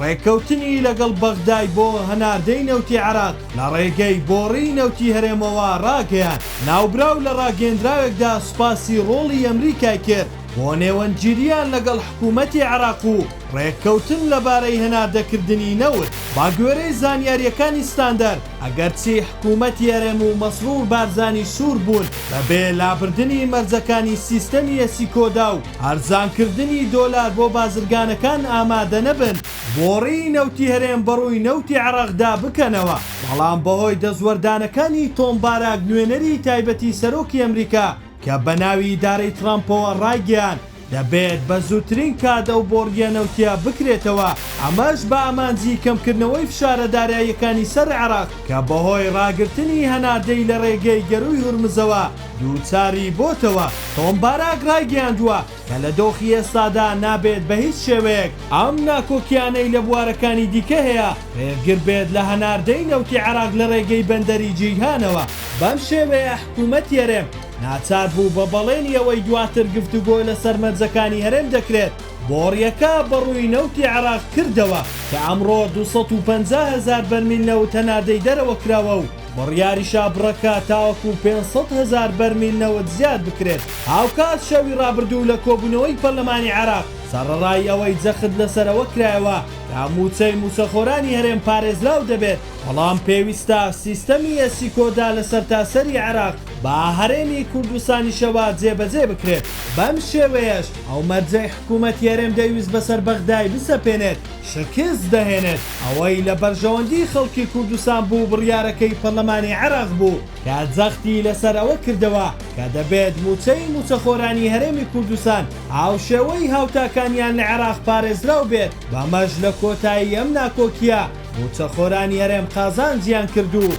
ڕێککەوتنی لەگەڵ بەغدای بۆ هەناردەی نەوتی عێراق لە ڕێگەی بۆڕیی نەوتی هەرێمەوە ڕاگەیاند، ناوبراو لە ڕاگەیەندراوێکدا سوپاسی ڕۆڵی ئەمریکای کرد بۆ نێوەندگیرییان لەگەڵ حکوومەتی عێراق و ڕێککەوتن لەبارەی هەناردەکردنی نەوت. بەگوێرەی زانیارییەکانی ستاندەر، ئەگەرچی حکوومەتی هەرێم و مەسرور بارزانی سوور بوون بەبێ لابردنی مەرجەکانی سیستەمی ئێسیکۆدا و، هەرزانکردنی دۆلار بۆ بازرگانەکان ئامادەنەبن بۆڕی نەوتی هەرێم بەڕووی نەوتی عێڕاقدا بکەنەوە، بەڵام بەهۆی دەستوەردانەکانی تۆم باراک نوێنەری تایبەتی سەرۆکی ئەمریکا کە بەناوی ئیدارەی تڕامپەوە ڕایگەیاند دەبێت بە زووترین کات ئەو بۆڕییە نەوتییە بکرێتەوە ئەمەش بە ئامانجی کەمکردنەوەی فشارە داراییەکانی سەر عێڕاق کە بەهۆی ڕاگرتنی هەناردەی لە ڕێگەی گەرووی هورمزەوە دووچاری بۆتەوە، تۆم باراک رایگەیاندووە کە لە دۆخی ئێستادا نابێت بە هیچ شێوەیەک ئەم ناکۆکییانەی لە بوارەکانی دیکە هەیە رێگر بێت لە هەناردەی نەوتی عێراق لە رێگەی بەندەری جەیهانەوە، بەم شێوەیە حکوومەتی هەرێم ناچار بوو بە بەڵێنی ئەوەی دواتر گفتوگۆ لەسەر مەرجەکانی هەرێم دەکرێت بۆڕییەکە بە رووی نەوتی عێراق کردەوە کە ئەمڕۆ دوو سەد و پەنجا هەزار بەرمیل نەوت هەناردەی دەرەوە کراوە و بڕیاریشا بڕەکە تاوەکو پێنج سەد هەزار بەرمیل نەوت زیاد بکرێت. هاوکات شەوی رابردوو لە کۆبوونەوەی پەرلەمانی عێراق، سەڕەڕای ئەوەی جەخت لەسەر ئەوە کرایەوە کە مووچەی مووچەخۆرانی هەرێم پارێزراو دەبێت، بەڵام پێویستە سیستەمی ئێسیکۆدا لە سەرتاسەری عێراق بە هەرێمی کوردستانیشەوە جێبەجێ بکرێت. بەم شێوەیەش ئەو مەرجەی حکوومەتی هەرێم دەیویست بەسەر بەغدای بسەپێنێت، شکست دەهێنێت، ئەوەی لە بەرژەوەندی خەڵکی کوردستان بوو بڕیارەکەی پەرلەمانی عێراق بوو کە جەختی لەسەر ئەوە کردەوە کە دەبێت مووچەی مووچەخۆرانی هەرێمی کوردستان هاوشێوەی هاوتاکانیان لە عێراق پارێزراو بێت، بەمەش لە کۆتایی ئەم ناکۆکییە مووچەخۆرانی هەرێم قازانجیان کرد و